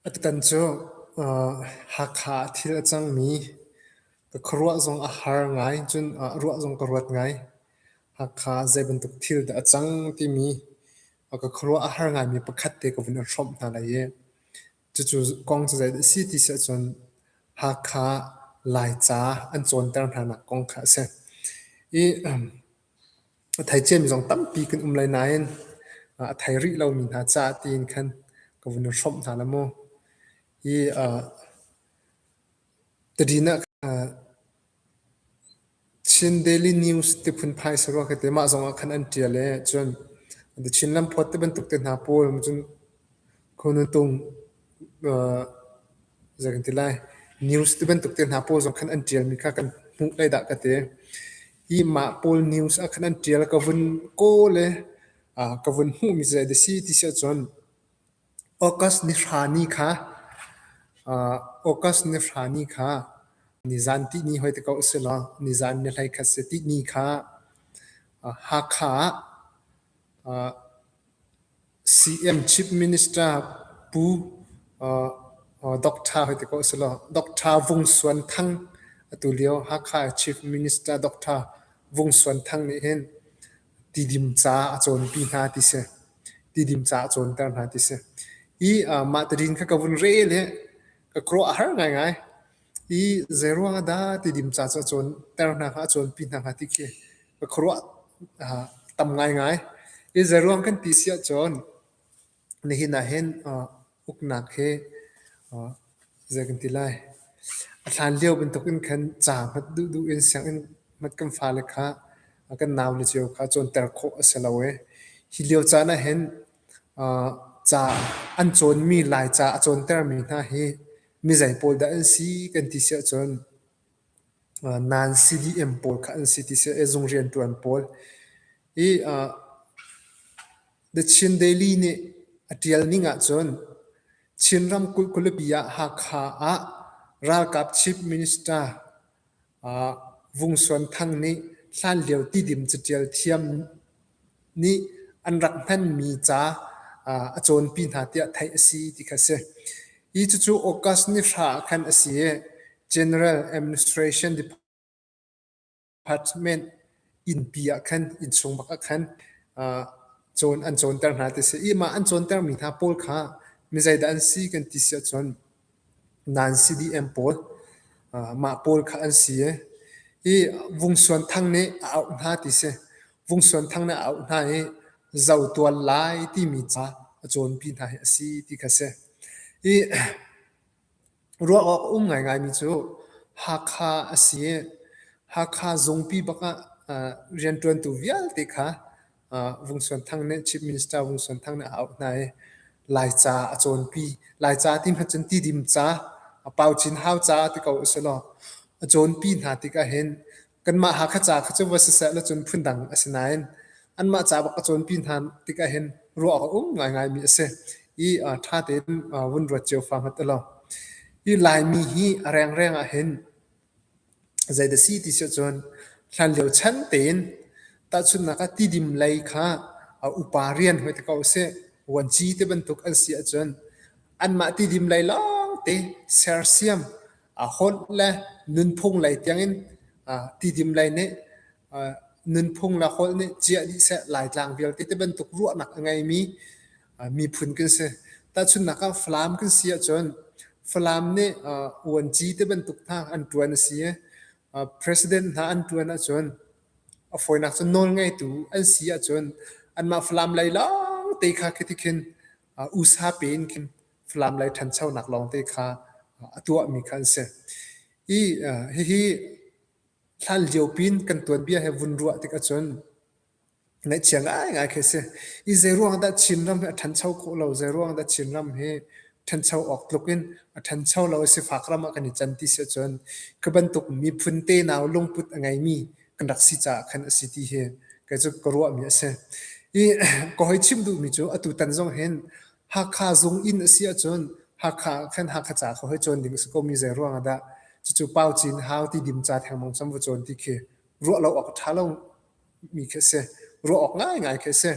Atutan cu Hakha ah thil a cangmi ka khuaruah zong a har ngai. Cun ruah zong ka ruat ngai. Hakha ah zei bantuk thil dah a cang timi ka khuaruah a har ngaimi pakhat te ka vun in hrawmh hna lai i Cucu kong cu zeidah a si ti si ahcun Hakha Laica an cawnter hnanak kong kha a si. I thaiciami zong tampi kan um lai nain a thai rih lomi hna caah tiin khan ka vun i hrawmh hna la mu. Hi Tadin ah Chin Daily News ti phunphai a si rua ka ti. Mah zongah khan an ṭial i cun The Chin Lamphawt ti bantuk te hna pawl cun Khonuntung zei kan ti lai news ti bantuk te hna pawl zong khan an ṭialmi kha kan hmuh lai dah ka ti. Hi mah pawl news ah khan an ṭial ka vun kawl i ka vun hmuhmi zei dah a si ti si ahcun August ni hra ni kha August ni hra ni kha nizan tihni hoi ti ko a si law nizan ni hleikhat si tihni kha Hakha ah CM Chief Minister Pu Doctor hoi ti ko a si law Doctor Vung Suan Thang atu lio Hakha Chief Minister Doctor Vung Suan Thang nih hin Tidim ca a cawnpi hna ti si. Tidim ca a cawnter hna ti si. I uh, mah tidin kha ka vun rel hi ka kruah a har ngaingai. I zeiruang ah dah tidim ca cu a cawnter hna kha, a cawnpi hna kha ti khi ka khuaruah uh, tam ngaingai. I zeiruang kan ti si ahcun, Nihin ah hin uknak hi zei kan ti lai, a hlanlio bantuk in khan ca hmat duhduh in sianginn hmat kan fale kha kan naule cio kha cawnter khawh a si lo i hi lio caan ah hin ca an cawnmi Laica a cawntermi hna hi mizei pawl dah an si kan ti si ahcun nan CDM pawl kha an si ti si i zung rianṭuan pawl i The Chin Daily nih a ṭial ning ahcun Chin ramkulh khualipi ah Hakha ah ralkap chief minister uh, Vung Suan Thang nih hlanlio tidim catial thiam nih an rak hmanmi ca uh, a cawnpi hna tiah theih a si ti kha si. Hi cucu August ni hra khan a si i General Administration Department apartment innpi ah khan innsung bak ah khan uh, cawn an cawnter hna ti si imah an cawnter mi hna pawl kha mi zeidah an si kan ti si ahcun nan CDM pawl uh, mah pawl kha an si i vung suan thang nih a auh hna ti si vung suan thang nih a auh hna i zau tual lai ti mi ca a cawn pi hna hi a si ti kha si i Ruah awk a um ngaingaimi cu Hakha a si i Hakha zungpi bak ah rianṭuantu vialte kha Vung Suan Thang nih Chief Minister Vung Suan Thang nih a auh hna i Laica a cawnpi. Laica ti hmat cun tidim ca, Pau Cin Hau ca ti ko usihlaw a cawnpi hna tik ahhin Kanmah Hakha ca kha cu va siseh lecun phundang a si nain anmah ca bak a cawnpi hna tik ahhin ruah awk a um ngaingaimi a si i ṭha tein vun ruat cio fa hmat ulaw. Hi Laimi hi a rengreng ahhin zeidah si ti si ahcun hlanlio chan tein tahchunhnak ah tidim lei kha upa rian hoi te ko usih vuanci te bantuk an si ahcun anmah tidim lei lawngte sersiam a hawnh le nunphung lei tiangin tidim lei nih nunphung le holh nih ciah dih seh laitlang vialte ti bantuk ruahnak a ngeimi miphun kan si tahchunnak ah Falam kan si ahcun Falam nih uanci te bantuk hna an ṭuan a si i president hna an ṭuan ahcun a fawinak cu nawl ngeitu an si ahcun anmah Falam lei lawngte kha khi ti khin usa pe in khin Falam lei ṭhanchonak lawngte kha a tuahmi kha an si. I hihi hlan liopi in kan tuanbia he vun ruah tik ahcun ngaihchia ngaingai khi a si. I zeiruang dah Chinram hi a ṭhancho khawh lo, zeiruang dah Chinram hi ṭhancho awk tluk in a ṭhancho lo i sifak ram ah kan i can ti si ahcun ka bantuk miphun tenau lungput a ngeimi kan rak si caah khan a si ti hi kei cu ka ruahmi a si. I ka hoi chim duhmi cu atu tan zong hin Hakha Zung inn a si ahcun Hakha ah khan Hakha ca kha hoi cawn ding a si ko mi zei ruang ah dah cucu Pau Cin Hau ti dim ca thengmang cam va cawn ti khi ruah lo awk a ṭha lo mi khi a si. Ruah awk ngaingai khi a si.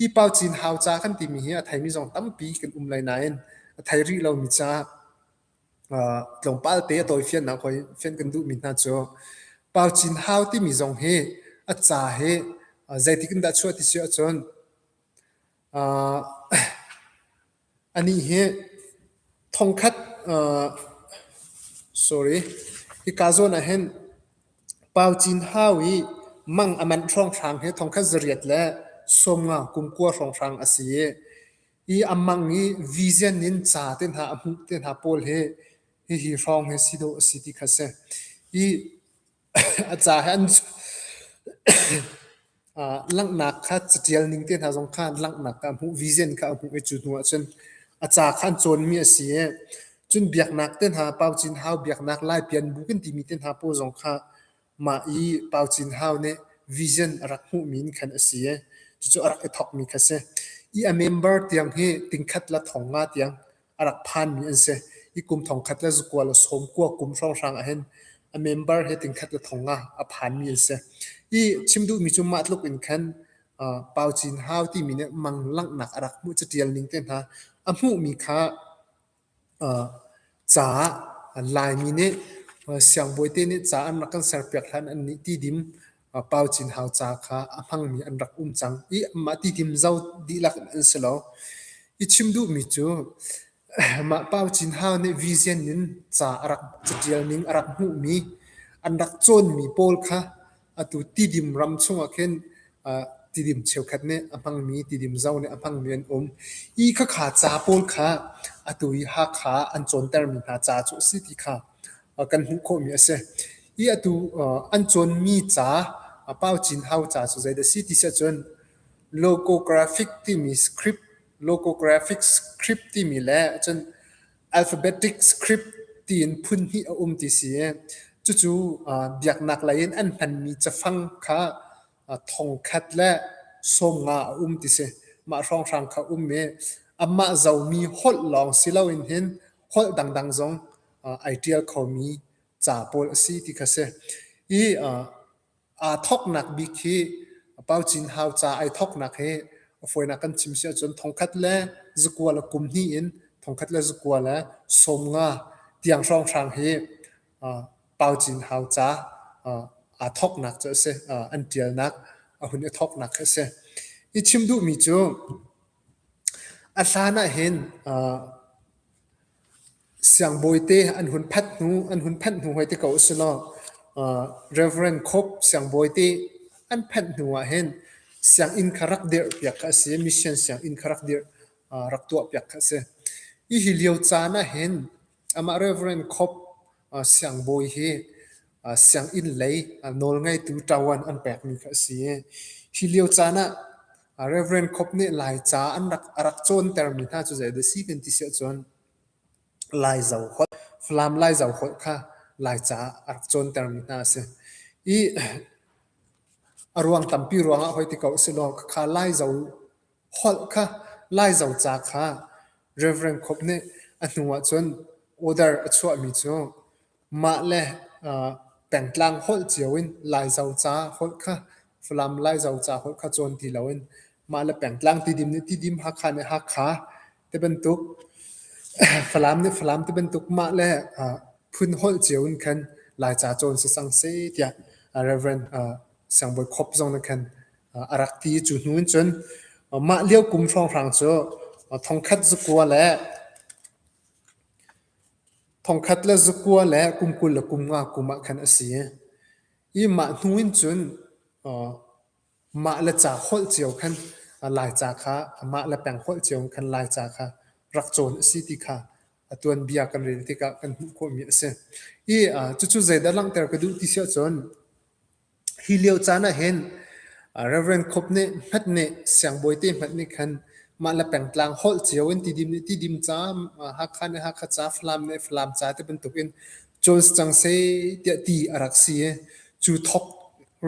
Hi Pau Cin Hau ca kan timi hi a theimi zong tampi kan um lai nain a thei rih lo mi ca uh, tlawmpal te a tawifiannak hoi fian kan duh mi hna cu Pau Cin Hau timi zong hi a ca hi uh, zeitik in dah chuah ti si ahcun Anih hi thongkhat sorry hika zawn ah hin Pau Cin Hau i mang a manh hrawnghrang hi thongkhat zariat le sawmnga kumkua hrawnghrang a si i i a mang i vision in ca te hna a hmuh te hna pawl hi hihi hrawng hi si dawh a si ti kha a si. I A ca he an langhnak kha catial ning te hna zong kha an langhnak kha a hmuh, vision kha a hmuh i cu hnuah cun a ca kha an cawnmi a si i cun biaknak te hna, Pau Cin Hau biaknak Lai Pianbu kan timi te hna pawl zong kha mah i Pau Cin Hau nih vision a rak hmuhmi in khan a si i cucu a rak i thawkmi kha a si. I a member tiang hi tingkhat le thong nga tiang a rak phanmi an si. I kum thongkhat le zakual a sawm kua kum hrawnghrang ahhin a member he tingkhat le thong ah a phanmi an si. I chim duhmi cu mah tluk in khan uh, Pau Cin Hau timi nih mang langhnak a rak hmuh catial ning te hna a hmuhmi kha uh, ca Laimi nih siangbawi te nih ca an rak kan serpiak hlan an nih ti dim a pau cinhau ca kha a hmangmi an rak um cang i amah titim zau dihlak in an si lo. I chim duhmi cu mah pau cinhau nih vision in ca a rak catial ning a rak hmuhmi an rak cawnmi pawl kha atu tidim ram chungah khin uh, tidim cheukhat nih a hmangmi tidim zau nih a hmangmi an um i khakha ca pawl kha atu i Hakha an cawntermi hna ca cu a si ti kha kan hmuh khawhmi a si. I atu an cawnmi ca, Pau Cin Hau ca cu zeidah a si ti siah cun logographic timi script, logographic script timi le cun alphabetic script tiin phun hnih a um ti si i cucu biaknak lei in an hmanmi cafang kha thongkhat le sawmnga a um ti si. Mah hrawnghrang kha a um i amah zomi holh lawng si loin hin holh dangdang zong ai ṭial khomi ca pawl a si ti kha a si. I aa thawknak bik hi Pau Cin Hau ca ai thawknak hi a fawinak kan chim si ahcun thongkhat le zakual a kum hnih in thongkhat le zakual le sawm nga tiang hrawnghrang hi Pau Cin Hau ca aa thawknak cu a si, an ṭialnak a hun i thawknak kha a si. I chim duhmi cu a hlan ahhin Siangbawite an hun phanh hnu an hun phanh hnu hoi te ko a si lo. Uh, Reverend Khup siangbawite an phanh hnu ah hin sianginn kha rak dirh piak kha a si. Mission sianginn kha rak dirh uh, rak tuah piak kha a si. Hi hi lio caan ah hin amah Reverend Khup uh, siangbawi hi uh, sianginn lei uh, nawlngeitu tawan an pekmi kha a si. Hi lio caan ah uh, Reverend Khup nih Laica an rak a rak cawntermi hna cu zei dah si kan ti si ahcun Falam Laizo holh kha Laica ah a rak cawntermi hna a si. I a ruang tampi ruangah hoi ti ko si law khakha Laizo holh kha Laizo ca kha Rev. Khup nih a hnu ahcun order a chuahmi cu Mahle pengtlang holh cio in Laizo ca holh kha Falam Laizo ca holh kha cawn ti loin mahle pengtlang tidim nih tidim Hakha nih Hakha tibantuk Falam nih Falam tibantuk mahle phun holh cio in khan Laica cawn sisang seh tiah Rev. Siangbawi Khop zong nih khan a rak ti. Cu hnu in cun mah lio kum hrawnghrang cu thongkhat zakua le Thongkhat le zakua le kum kul le kum nga kum ah khan a si. I mah hnu in cun mah le ca holh cio khan Laica kha mah le peng holh cio in khan Laica kha rak cawn a si ti kha a tuanbia kan rel tikah kan hmuh khawhmi a si. I cucu zeidah langhter ka duh ti si ahcun Hi lio caan ahhin Rev. Khup nih hmet nih siangbawi te hmet nih khan mah le pengtlang holh cio in tidim nih tidim ca, Hakha nih Hakha ca, Falam nih Falam ca ti bantukin cawn si cang seh tiah ti a rak si i cu thawk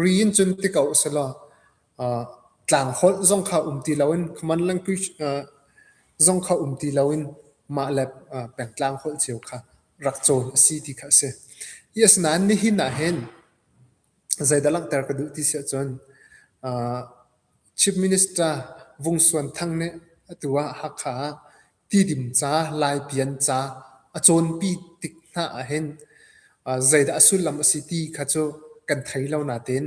ri in cun ti ko usihlaw tlang holh zong kha um ti loin common language zong kha um ti loin mah le pengtlang holh cio kha rak cawn a si ti kha a si. Asinain nihin ahhin Zeidah langhter ka duh ti si ahcun uh, Chief Minister Vung Suan Thang nih atu ah Hakha ah tidim ca, laipian ca a cawnpi tik hna ahhin uh, zeidah a sullam a si ti kha cu kan thei lo nain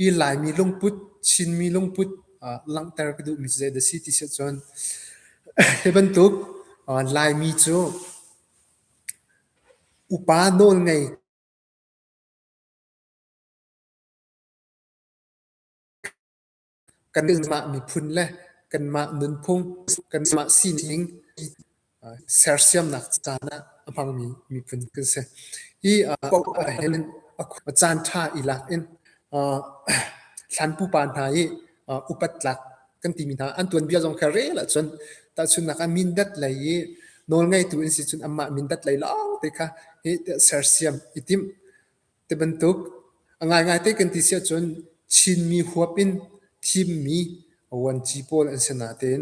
i Laimi lungput, Chinmi lungput uh, langhter ka duhmi cu zeidah a si ti si ahcun hi bantuk uh, Laimi cu upa nawlngei Kanmah miphun le kanmah nunphung, kanmah sining sersiamnak caan ah a hmangmi miphun kan si. Hi paoh ahhin a caan ṭha i lak in thlan pupa hna i upat tlak kan timi hna an tuanbia zong kha rel ahcun tahchunnak ah mindat lei i nawlngeitu in si cun amah mindat lei lawng te kha hi sersiam i tim te bantuk ngaingai te kan ti si ahcun chinmi huap in thimmi vuanci pawl an si natein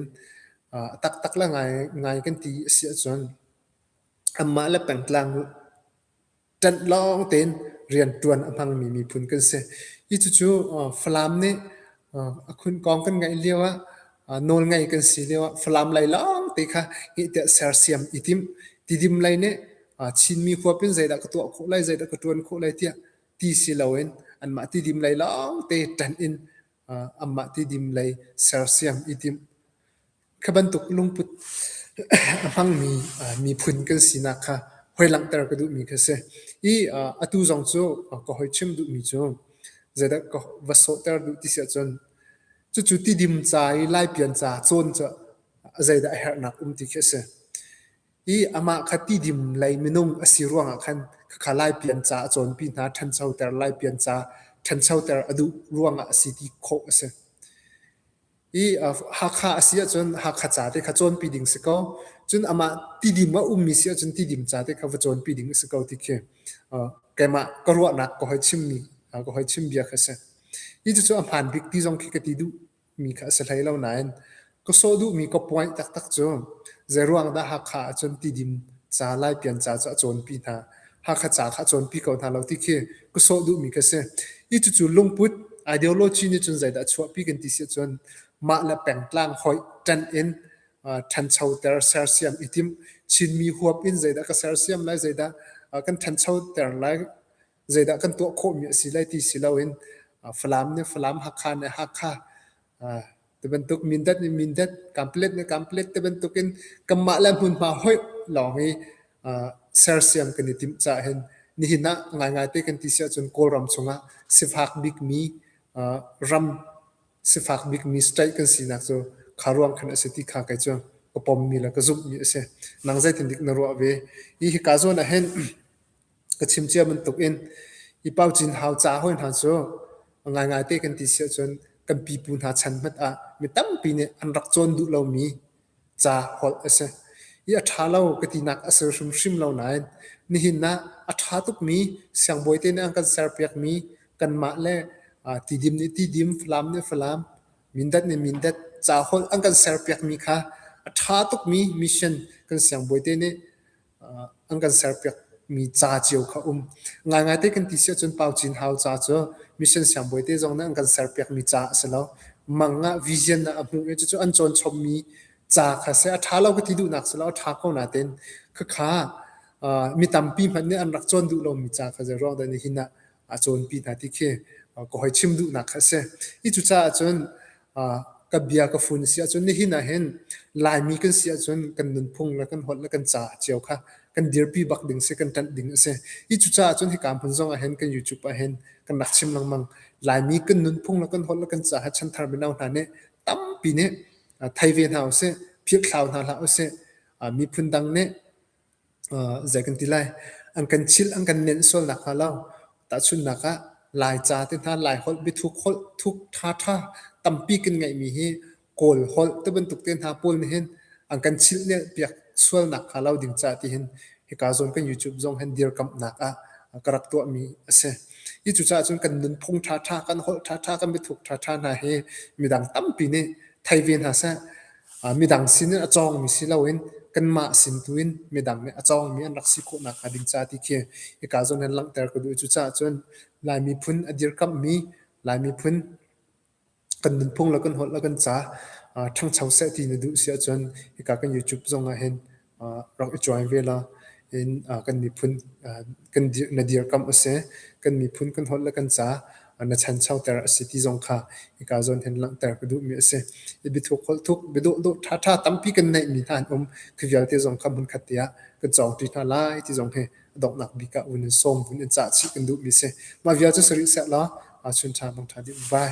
taktak la ngai ngai kan ti si ahcun amah le pengtlang ṭanh lawng tein rianṭuan a hmangmi miphun kan si. Hi cucu Falam nih a khunkawng kan ngaih lio ah nawlngei kan si lio ah Falam lei lawng te kha ngihtiah sersiam i timh. Tidim lei nih Chinmi huap in zeidah ka tuah khawh lai, zeidah ka ṭuan khawh lai tiah ti si loin anmah tidim lei lawng te ṭanh in Amah tidim lei sersiam i timh. Kha bantuk lungput a hmangmi miphun kan sinak kha hoi-langhter ka duhmi kha si. I atu zong cu ka hoi chim duhmi cu zeidah ka va sawhter duh ti si ahcun cucu tidim ca i laipian ca cawn cu zeidah a herhnak um ti khi a si. i amah kha tidim lei minung a si ruangah khan khakha laipian ca a cawnpi hna ṭhanchoter laipian ca ṭhanchoter a duh ruangah a si ti khawh a si. I Hakha a si ahcun Hakha ca te kha cawnpi ding si ko. Cun amah tidim a ummi si ahcun tidim ca te kha va cawnpi ding a si ko ti khi keimah ka ruahnak ka hoi chimmi ka hoi chim bia khi a si. Hi cucu a hmaan bik ti zong khi ka ti duh. mi kha a si hlei lo nain ka sawh duhmi ka point taktak cu zeiruang dah Hakha ahcun tidim ca Laipian ca cu a cawnpi hna Hakha ca kha a cawnpi ko hna lo ti khi ka sawh duhmi ka si i cucu lungput ideology nih cun zeidah a chuahpi kan ti si ahcun mah le pengtlang hoih ṭan in ṭhanchoter sersiam i tim Chinmi huap in zeidah ka sersiam lai zeidah kan ṭhanchoter lai zeidah kan tuah khawhmi a si lai ti si loin Falam nih Falam Hakha nih Hakha tibantuk Mindat nih Mindat Kamplet nih Kamplet tibantuk in kanmah le hmunhma hoih lawng hi sersiam kan i timh cah hin nihin ah ngaingai te kan ti si ahcun Kawlram chungah sifak bikmi ram sifak bikmi state kan sinak cu kha ruang khan a si ti kha kai cu ka pommi le ka zumhmi a si nang zeitin dik na ruah ve hi hi ka zawn ah hin ka chim cia bantuk in i paucin hau ca hawi hna cu ngaingai te kan ti si ahcun kan pipu hna chan hmanh ah mi tampi nih an rak cawn duh lomi ca holh a si. I a ṭha lo ka tinak a si hrimhrim lo nain nihin ah a ṭha tukmi siangbawi te nih an kan serpiakmi kanmah le tidim nih tidim, falam nih falam, mindat nih mindat ca holh an kan serpiakmi kha a ṭha tukmi mission kan siangbawi te nih an kan serpiakmi ca cio kha um. Ngaingai te kan ti si ahcun Pau Cin Hau ca cu mission siangbawi te zong nih an kan serpiakmi ca a si lo. Mang ah vision ah a hmuh i cucu an cawn chommi ca kha si. A ṭha lo ka ti duhnak si lo, a ṭha ko natein khakha mi tampi hmanh nih an rak cawn duh lomi ca kha zei ruang dah ni hin ah a cawnpi hna ti khi ka hoi chim duhnak kha a si. Hi cucaah cun ka bia ka fun si ahcun nihin ah hin Laimi kan si ahcun kan nunphung le kan holh le kan ca cio kha kan dirpi bak ding si, kan ṭanh ding a si. Hi cucaah cun hika hmun zong ah hin kan YouTube ah hin kan rak chim lengmang. Laimi kan nunphung le kan holh le kan ca ha chanthar mino hna nih tampi nih thei ve hna usih, philhthlau hna hlah usih. Miphun dang nih zei kan ti lai, an kan chilh, an kan nenh sual nakhnga lo tahchunhnak ah Laica te hna Laiholh biathuk holh thuk ṭhaṭha tampi kan ngeihmi hi Kawl holh ti bantuk te hna pawl nih hin an kan chilhnelh piak sual nakhnga lo ding caah ti hin hika zawn kan YouTube zong hin dirkamhnak ah ka rak tuahmi a si. Hi cucaah cun kan nunphung ṭhaṭha, kan holh ṭhaṭha, kan biathuk ṭhaṭha hna hi midang tampi nih thei ve hna seh. Midang sin in a cawngmi si loin kanmah sin tu in midang nih a cawngmi an rak si khawhnak hnga ding ca ti khi hika zawn hin langhter ka duh i cucaah cun Lai miphun a dirkamhmi Lai miphun kan nunphung le kan holh le kan ca ṭhangcho seh ti na duh si ahcun hika kan YouTube zong ah hin rak i cuai ve la. In kan miphun na dirkamh a si. Kan miphun kan holh le kan ca na chanchoter a si ti zong kha hika zawn hin langhter ka duhmi a si. I biathuk holh thuk, biadawhdawh ṭhaṭha tampi kan neihmi hna an um. Khi vialte zong kha hmunkhat te ah kan cawngṭi hna lai ti zong hi donghnak bik ah vun in sawm, vun in cah chih kan duhmi a si. Mah vialte si rih seh law chun ṭha bang ṭha dih. Vai.